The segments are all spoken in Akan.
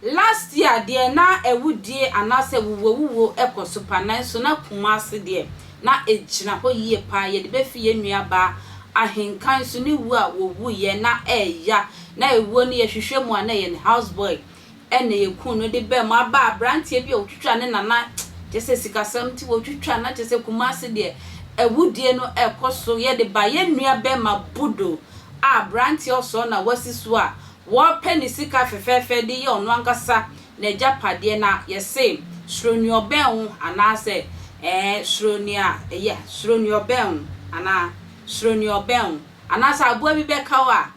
Last year deɛ na awudie anaasɛ awuwuawuwuo kɔ so pa nanso na Kumasi deɛ na ɛgyina hɔ yie paa. Yɛde bɛfi yɛn nuabaa Ahenka nso ne wuo a wɔwuiɛ na ɛreya. Na ɛwuo no yɛhwehwɛ mu a na ɛyɛ ne house boy Ɛna yɛ kunu no de bɛɛ mu aba abranteɛ bi a ɔtwitwa ne nana kyɛ sɛ sikasɛm nti wɔtwitwa na kyɛ sɛ kumase deɛ awudie no ɛkɔ so yɛde ba yɛ nua bɛɛma budo a abranteɛ ɔsɔɔ na wasi so a wɔpɛ ne sika fɛfɛɛfɛ de yɛ ɔno ankasa na gya padeɛ na yɛse suro nea ɔbɛn wo anaa sɛ ɛɛ suro nea ɛyɛ suro nea ɔbɛn wo anaa suro nea ɔbɛn wo anaa sɛ aboa bi bɛka wo a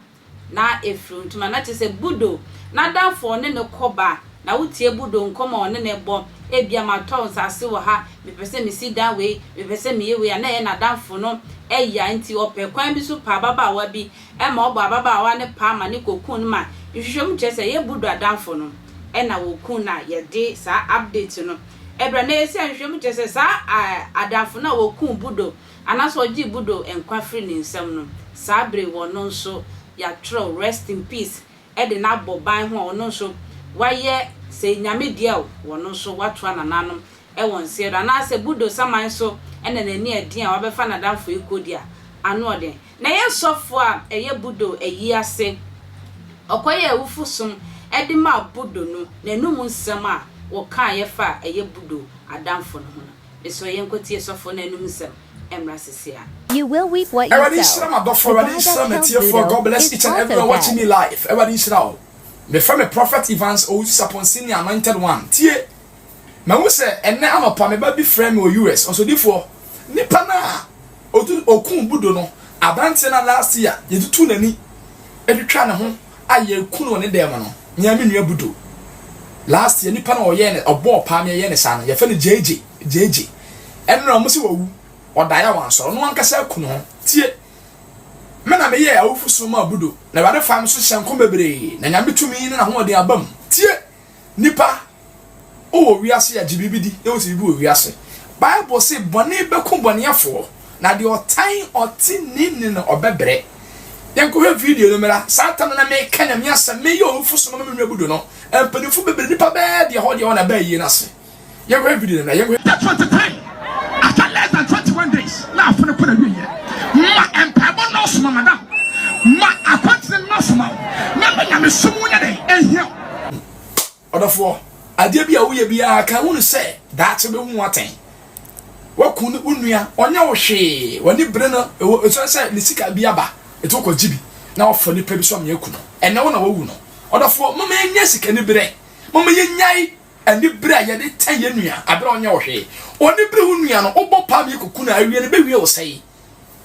Na efiri ntoma na kyerɛ sɛ Budo n'adamfo ɔne no kɔ ba na wotie Budo nkɔm a ɔne no bɔ ebia matɔ nsaase wɔ ha mepɛ sɛ mesi dan wei mepɛ sɛ meyɛ wei a na ɛyɛ n'adamfo no ya nti ɔpɛ kwan bi so pɛ ababaawa bi ma ɔbɔ ababaawa no paa ma no kɔ kun no ma nhwehwɛmu kyerɛ sɛ ɛyɛ Budo adamfo no na wɔkun no a yɛde saa update no ɛbrɛ na ɛyɛ sɛ nhwehwɛmu kyerɛ sɛ saa adamfo no a wɔkun Budo Anaasɛ ɔgyee Budo nkwa firii ne nsam no, saa bere yi ɔno nso yɛatwerɛw Rest in Peace de no abɔ ban ho a ɔno nso wayɛ sɛ Nyame dea o, ɔno nso watoa nananom wɔ nseɛ do. Anaasɛ Budo saman so na n'ani adin a wabɛfa n'adamfo yi kɔ di a, ano ɔden. Na ɛyɛ sɔfoɔ a ɛyɛ Budo ayi ase, ɔkɔyɛɛ awufo som de maa Budo no, n'anum nsɛm a wɔkaeɛ fa a ɛyɛ Budo adamfo no ho no. Mesrɛ yɛnkɔtie sɔfo no anum nsɛm mmra sese a. You will reap what you sow. Awurade nhyira m'adɔfo, The Awurade guy that nhyira killed m'atiefo, Budo God bless is each and also everyone watching me dead. live, Awurade nhyira wo, mefrɛ me Prophet Evans Owusu-Sapon Senior Anointed One, tie, mahu sɛ ɛnnɛ anɔpa me ba bi frɛɛ me wɔ US, Ɔsodifoɔ, nipa no a ɔkuu Budo no, aberanteɛ no a last year yɛtutuu n'ani twitwaa ne ho, a yɛreku no wɔ ne dan mu no, me ara me nua Budo, last year, nipa no a ɔyɛɛ no, ɔbɔɔ paa me, yɛyɛɛ no saa no, yɛfrɛ no Gyegye, Gyegye, ɛnora a wɔse wawu, ɔdaeɛ a wansɔre, ɔno ankasa aku ne ho, tie, me na meyɛɛ awufosom maa Budo, na Awurade faa me so hyɛɛ nkɔm bebree, na Nyame tumi ne n'ahoɔden abam, tie! Nnipa, wowɔ wiase a, gye biribi di na wote biribi wɔ wiase. Bible se bɔne bɛku bɔneɛfoɔ, na deɛ ɔtan ɔteneeni no ɔbɛbrɛ. Yɛnkɔhwɛ video no mmra. Saa tam no na meka Nyame asɛm, meyɛ owufosom ama me nwa abu do no, mpanyimfo bebree, nnipa bɛɛ deɛ hɔ deɛ hɔ na bɛɛ ayie no ase. Yɛnkɔhwɛ video no na yɛnkɔhwɛ. Day twenty three after less than twenty one days na afe no kɔ na wieyɛ ma mpaebɔ nɔɔso ma madam ma akwankyerɛ no nɔɔso ma wo na ma nyamesom wo nyɛ dɛn ɛnhia wo. Ɔdɔfoɔ, adeɛ bi a woyɛ biara ka hunu sɛ daakye wobɛhu ho atɛn. Woaku ne wo nua, ɔnyɛ wo hwee, w'ani bere no, ɛwɔ ɛsɛ sɛ ne sika bi aba, ɛti wokɔgye bi na wafa nipa bi so ama yɛaku no, ɛnɛ wo na wawu no. Ɔdɔfoɔ, momma yɛnyɛ sikaniberɛ, momma yɛnnyae. Ɛne bere a yɛde kyɛ yɛn nua bere a ɔnyɛ wo hwee. Ɔne bere wo nua no wobɔ paa mmiako ku no a awie no bɛwie wo sɛe.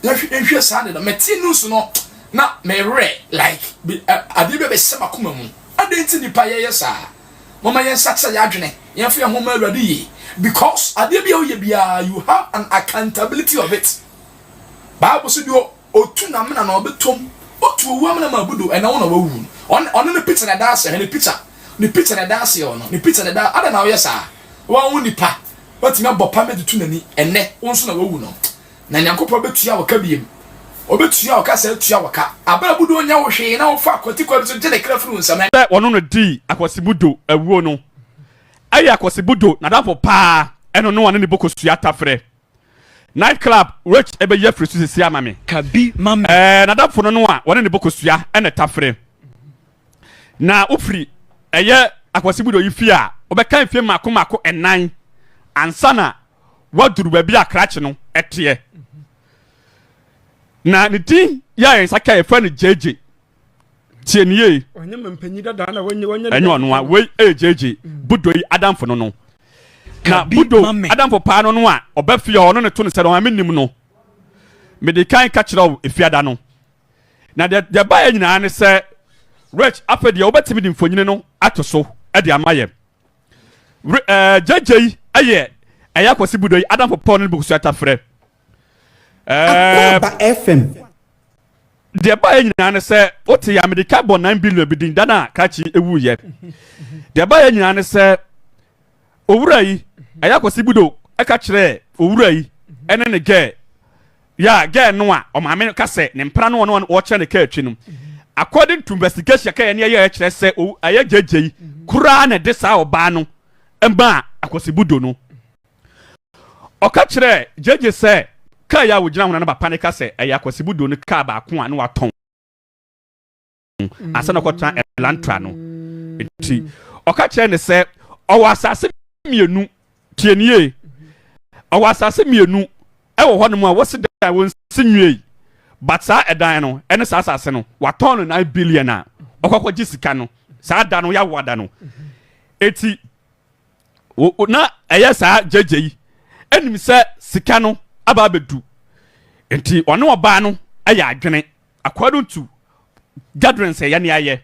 Yɛnhwɛ saa ade no. Mete news no na me werɛ like adeɛ bi a bɛhyɛ m'akoma mu. Adɛn nti nnipa yɛyɛ saa? Momma yɛnsakyera yɛn adwene, yɛmfa yɛn ho mma Awurade yie because adeɛ bi a woyɛ biara you have an accountability of it. Bible so deɛ Otu n'amena na ɔbɛtɔ mu. Otu owu amena mu abu do, ɛnna wo na woawu no. Ɔne ɔne ne pitsa na ɛda aseɛ hwɛ, ne pitsa. Ne pitsa na ɛda aseɛ ɔno. Ne pitsa na ɛda Adɛn na woyɛ saa? Woa wo nipa, woatumi abɔ pam de to n'ani. Ɛnnɛ, wo nso na woawu no. Na Nyankopɔn bɛtua wo ka biom. Ɔbɛtua wo ka saa atua wo ka. Abɛ abu do ɔnyɛ wo hwee na wofa akwatikwa bi so gye ne kra firi wo nsam. Ɛnnɛ. Sɛ wɔnom no dii akwasibu do awuo no, ɛyɛ akwasibu do n'adamfo paa, ɛno no ɔne ne bo kɔsua tafrɛ. Night club rich ɛbɛyi afiri so sisi ama me. Ka bi ma me. Ɛɛ n'adamfo no no a wɔne ne bɔ kosua ɛna ɛta fere. Na wofiri ɛyɛ akwasi mu de oyi fie a wobɛka mfie mmaako mmaako ɛnan ansa na waduru baabi a krakye no ɛteɛ. Na ne din yɛ a yɛn nsa ka yɛfrɛ no gyegye. tie ne yie ɛnyɛ ɔno a wei ɛgyegye eh, mm. budo yi adamfo no no na budo adamfo paa no no a ɔbɛ fie ɔno ne to ne sɛ no ame nim no mede kan ka kyerɛ wo efiada no na deɛ deɛ baeɛ nyinaa ne sɛ rich afɛ deɛ wobɛtumi de mfonyini no ato so de ama yɛ gyegye yi ɛyɛ ɛyɛ akɔsi budo yi adamfo paa no ne bukusuata frɛ Akwaaba FM. Deɛ ɛbaeɛ nyinaa ne sɛ wote yɛ amirika bɔ nine billion bi din da no a krakye ɛwuiɛ deɛ ɛbaeɛ nyinaa ne sɛ owura yi ɛyɛ akwasi budo ɛka kyerɛɛ owura yi ɛne ne gɛɛ yɛ a gɛɛ no a ɔmaame ka sɛ ne mpena no ɔno wɔkyerɛ ne kaa atwi no according to investigation kɛyɛ ne ɛyɛ ɛkyerɛ sɛ ɛyɛ gyegye yi koraa na ɛde saa ɔbaa no ɛmaa akwasi budo no Ɔka kyerɛɛ JJ sɛ kaa yi a ogyina ho na ne papa no ka sɛ ɛyɛ akwasibu do no kaa baako a na watɔn ansa na ɔkɔtena Elantra no. Enti ɔka kyerɛɛ no sɛ ɔwɔ asase mmienu, tie nie, ɔwɔ asase mmienu ɛwɔ hɔnom a wɔsi dan a wɔnsi nwiei, but saa ɛdan no ɛne saa asase no watɔn no nine billion a ɔkɔkɔgye sika no saa da no yɛawo ada no. Eti O na ɛyɛ saa gyegye yi nim sɛ sika no aba abɛdu. Nti ɔne ɔbaa no yɛ adwene according to gatherings ɛyɛ ne ayɛ.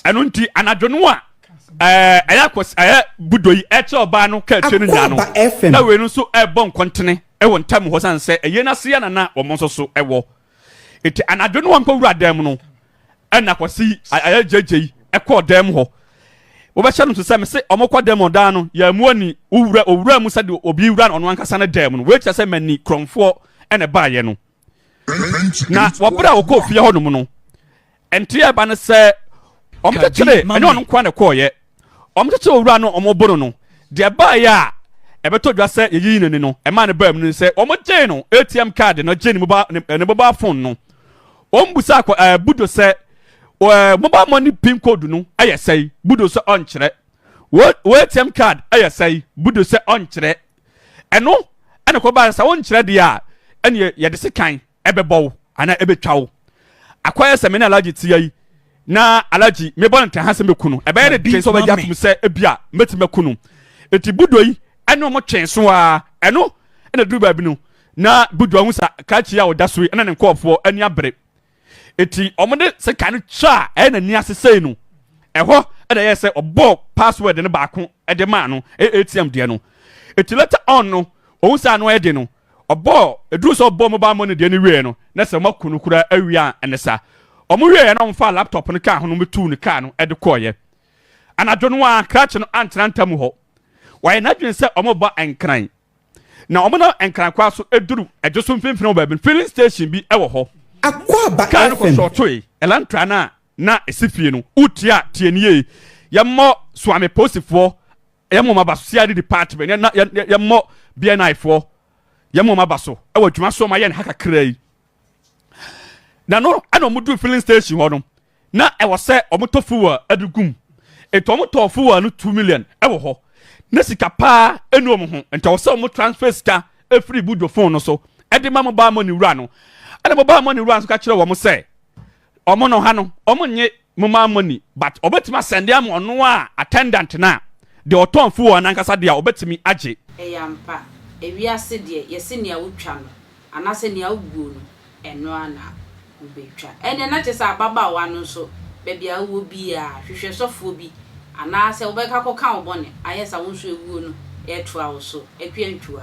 Ɛno nti anadwo no a ɛɛ ɛyɛ akɔs ɛyɛ budo yi ɛkyɛ ɔbaa no kaa akyire no nyinaa no na wei no nso ɛbɔ nkɔntene ɛwɔ ntam hɔ san sɛ ɛyɛ n'ase yɛ nana wɔn nso so ɛwɔ. Eti anadwo no wɔnkɔ wura dan mu no, ɛna Kwasi ayɛ gyeigyei kɔɔ dan mu hɔ. Wobɛhyɛ no nso sɛ mese wɔkɔ dan mu ɔdan no yɛammu ani wowura owura mu sɛdeɛ obi wura ɔno ankasa ne dan mu no. Wei kyerɛ sɛ mani korɔmfoɔ na ɛbaeɛ no. Na wɔberɛ a wɔkɔɔ fie hɔnom no, Nte a ɛba ne sɛ wɔkyekyere, ɛnyɛ ɔno nkoa na ɛkɔɔeɛ, wɔkyekyere owura no wɔbo no no, deɛ ɛbaeɛ a ɛbɛtɔ dwa sɛ yɛyii no ni no, ɛmaa no baa mu no sɛ wɔgyee no ATM kaade no gyee ne mobile, ne mobile phone no. Wɔbusaa kɔ, ɛɛ, Budo sɛ, ɛɛ, mobile money pin code no yɛ sɛe? Budo sɛ ɔnkyerɛ. Wo, wo ATM card yɛ sɛe? Budo sɛ ɔnkyerɛ. Ɛno ɛna kɔbaa sɛ wonkyerɛ deɛ a, ɛneɛ yɛde sekan ɛbɛbɔ wo anaa ɛbɛtwa wo. Akɔyɛ sɛ me ne Alhaji te ha yi na Alhaji mebɔ no ntɛha sɛ mɛku no, ɛbɛyɛ ne den sɛ ɔbɛgye atom sɛ ebia mɛtumi aku no. Nti Budua yi ne wɔn twee so ara, ɛno na ɛduru baabi no na Budua hu sɛ Kachi a ɔda so yi ne ne nkurɔfoɔ ani abere. Nti wɔde sekan no twa a ɛyɛ n'ani ase sei no, ɛhɔ na ɛyɛɛ sɛ ɔbɔɔ password no baako de maa no, ɛyɛ ATM deɛ no. Nti later on no, ɔhu sɛ ano ayɛ den no, Ɔbɔɔ eduru sɛ ɔbɔɔ mobile money deɛ no wieɛ no na sɛ wɔaku no koraa awia a ɛne sa. Wɔwieeɛ na wɔfaa laptop no kaa ho na wɔtuu no kaa no de kɔeɛ. Anadwo no ara krakye no antena Ntamu hɔ. Wayɛ n'adwene sɛ wɔreba Nkran. Na wɔnam Nkran kwan so duru Adwo so mfimfini wɔ baabi no filling station bi wɔ hɔ. Akwaaba FM. Kaa no kɔsɔɔtoe Elantra no a na ɛsi fie no. Wotiaa tie no yie. Yɛmmɔ Suame Posifoɔ Yɛn moma ba so sɛ yɛade department yɛn na yɛmmɔ BNI foɔ yɛn moma ba so wɔ adwuma so ɔma yɛn ha kakra yi na no ɛna ɔmo duru filling station hɔ no na ɛwɔ sɛ ɔmo tɔ fuel ɛde gum nti ɔmo tɔ fuel no two million ɛwɔ hɔ na sika paa ɛnu ɔmo ho nti ɔwɔ sɛ ɔmo transfer sika ɛfiri bujo phone no so ɛde ma mobile money wura no ɛna mobile money wura no so ka kyerɛ wɔn sɛ ɔmo no ha no ɔmo nye Mobile money but ɔbɛtumi asɛnde ama ɔno a attendant no a deɛ ɔtɔn fi wɔn ankasa deɛ a ɔbɛtumi agye. Ɛyɛ ampa, ewiase deɛ yɛse nea wotwa no anaasɛ nea woguo no ɛno ara na wobɛtwa. Ɛnneɛ na kyerɛ sɛ ababaawa no nso baabi a wowɔ biara hwehwɛ sɔfoɔ bi anaasɛ wobɛkɔ akɔka wo bɔne ayɛ sa wo nso awuo no ɛretoa wo so, Akua Ntua.